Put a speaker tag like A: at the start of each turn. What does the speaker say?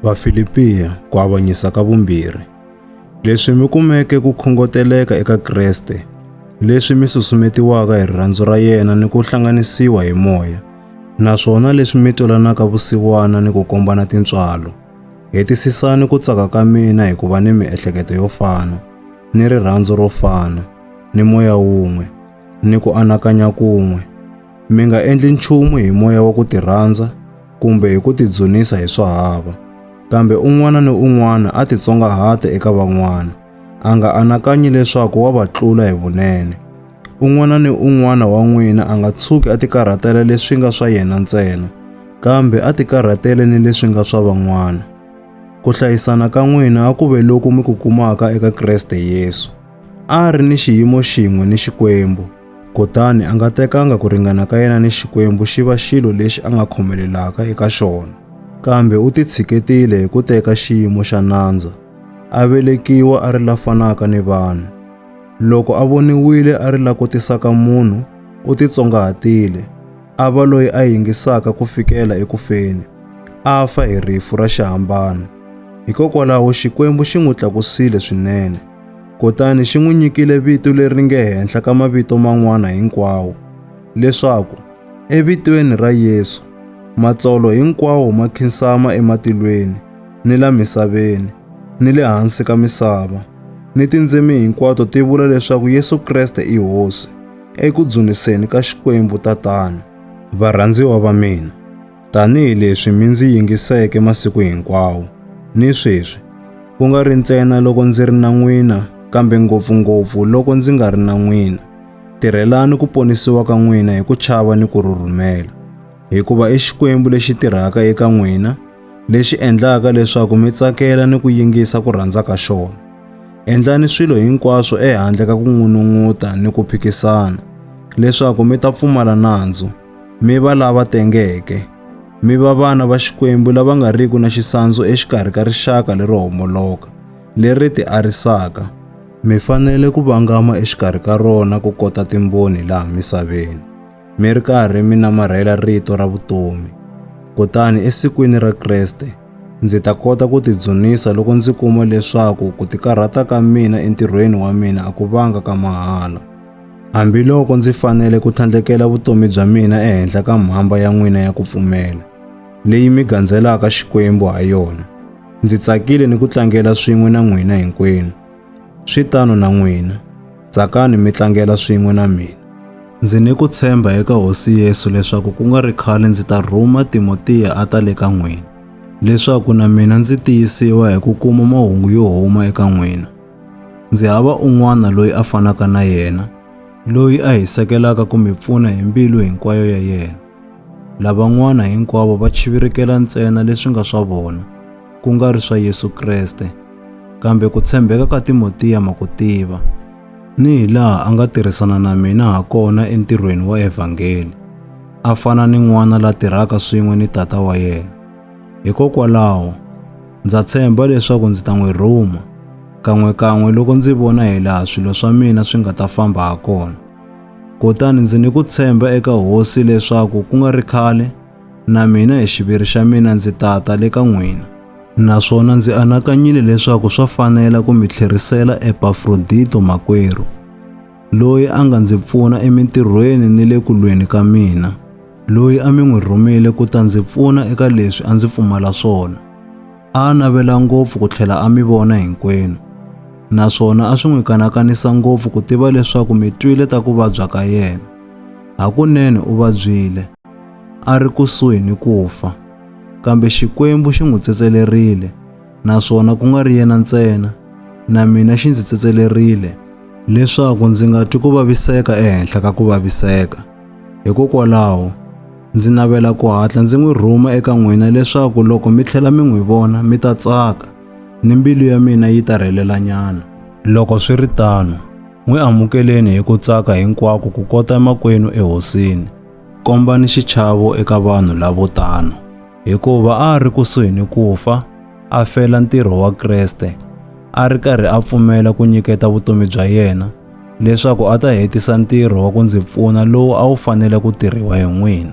A: Vafilipiya ku avanyisa ka vumbirhi. Leswi mi kumeke ku khongoteleka eka Kreste, leswi mi susumetiwaka hi rirhandzu ra yena ni ku hlanganisiwa hi moya, naswona leswi mi twalanaka vusiwana ni ku kombana tintswalo. Hetisisani ku tsaka ka mina hi ku va ni miehleketo yo fana, ni rirhandzu ro fana, ni moya wun'we, ni ku anakanya kun'we. Mi nga endli nchumu hi moya wa ku tirhandza kumbe hi ku tidzunisa hi swa hava, kambe un'wana ni un'wana a titsongahate eka van'wana, a nga anakanyi leswaku wa va tlula hi vunene. Un'wana ni un'wana wa n'wina a nga tshuki a tikarhatela leswi nga swa yena ntsena, kambe a tikarhatele ni leswi nga swa van'wana. Ku hlayisana ka n'wina a ku ve loku mi ku kumaka eka Kreste Yesu. A a ri ni xiyimo xin'we ni Xikwembu, Kutani a nga tekanga ku ringana ka yena ni Xikwembu xi va xilo lexi a nga khomelelaka eka xona, kambe u titshiketile hi ku teka xiyimo xa nandza, a velekiwa a ri la fanaka ni vanhu. Loko a voniwile a ri la kotisaka munhu, u titsongahatile, a va loyi a yingisaka ku fikela eku feni, a fa hi rifu ra xihambano. Hikokwalaho Xikwembu xi n'wi tlakusile swinene. Kutani xi n'wi nyikile vito leri nge henhla ka mavito man'wana hinkwawo, leswaku evitweni ra Yesu matsolo hinkwawo ma khinsama ematilweni, ni la misaveni, ni le hansi ka misava, ni tindzimi hinkwato ti vula leswaku Yesu Kreste i Hosi, eku dzuniseni ka Xikwembu Tatana. Varhandziwa va mina, Tanihi leswi mi ndzi yingiseke masiku hinkwawo, ni sweswi, ku nga ri ntsena loko ndzi ri na n'wina, kambe ngopfu-ngopfu loko ndzi nga ri na n'wina, tirhelani ku ponisiwa ka n'wina hi ku chava ni ku rhurhumela, hikuva i Xikwembu lexi tirhaka eka n'wina, lexi endlaka leswaku mi tsakela ni ku yingisa ku rhandza ka xona. Endlani swilo hinkwaswo ehandle ka ku n'unun'uta ni ku phikisana, leswaku mi ta pfumala nandzu, mi va lava tengeke, mi va vana va Xikwembu lava nga riki na xisandzu exikarhi ka rixaka lero homoloka, leri ti arisaka. Mi fanele ku vangama exikarhi ka rona ku kota timboni laha misaveni, mi ri karhi mi namarhela rito ra vutomi. Kutani esikwini ra Kreste, ndzi ta kota ku tidzunisa loko ndzi kuma leswaku ku tikarhata ka mina entirhweni wa mina a ku vanga ka mahala. Hambiloko ndzi fanele ku tlhandlekela vutomi bya mina ehenhla ka mhamba ya n'wina ya ku pfumela, leyi mi gandzelaka Xikwembu ha yona, ndzi tsakile ni ku tlangela swin'we na n'wina hinkwenu. Swi tano na n'wina, tsakani mi tlangela swin'we na mina. Ndzi ni ku tshemba eka Hosi Yesu leswaku ku nga ri khale ndzi ta rhuma Timotiya a ta le ka n'wina, leswaku na mina ndzi tiyisiwa hi ku kuma mahungu yo huma eka n'wina. Ndzi hava un'wana loyi a fanaka na yena, loyi a hi sekelaka ku mi pfuna hi mbilu hinkwayo ya yena. Lavan'wana hinkwavo va chivirikela ntsena leswi nga swa vona, ku nga ri swa Yesu Kreste, kambe ku tshembeka ka Timotiya ma ku tiva, ni hi laha a nga tirhisana na mina ha kona entirhweni wa evhangeli, a fana ni n'wana la tirhaka swin'we ni tata wa yena. Hikokwalaho, ndza tshemba leswaku ndzi ta n'wi rhuma, kan'we-kan'we loko ndzi vona hi laha swilo swa mina swi nga ta famba ha kona. Kutani ndzi ni ku tshemba eka Hosi leswaku ku nga ri khale, na mina hi xiviri xa mina ndzi tata le ka n'wina. Naswona ndzi anakanyile leswaku swa fanela ku mi tlherisela Epafrodito makwerhu. loyi a nga ndzi pfuna emintirhweni ni le ku lweni ka mina, loyi a mi n'wi rhumile ku ta ndzi pfuna eka leswi a ndzi pfumala swona. A a navela ngopfu ku tlhela a mi vona hinkwenu, naswona a swi n'wi kanakanisa ngopfu ku tiva leswaku mi twile ta ku vabya ka yena. Hakunene u vabyile, a ri kusuhi ni ku fa, kambe Xikwembu xi n'wi tsetselerile naswona ku nga ri yena ntsena na mina xi ndzi tsetselerile leswaku ndzi nga twi ku vaviseka ehenhla ka ku vaviseka hikokwalaho ndzi navela ku hatla ndzi n'wi rhuma eka n'wina leswaku loko mi tlhela mi n'wi vona mi ta tsaka ni mbilu ya mina yi ta rhelelanyana loko swi ri tano n'wi amukeleni hi ku tsaka hinkwako ku kota emakwenu ehosini kombani xichavo eka vanhu lavo tano hikuva a a ri kusuhi ni ku fa a fela ntirho wa Kreste, a ri karhi a pfumela ku nyiketa vutomi bya yena leswaku a ta hetisa ntirho wa ku ndzi pfuna lowu a wu fanele ku tirhiwa hi n'wina.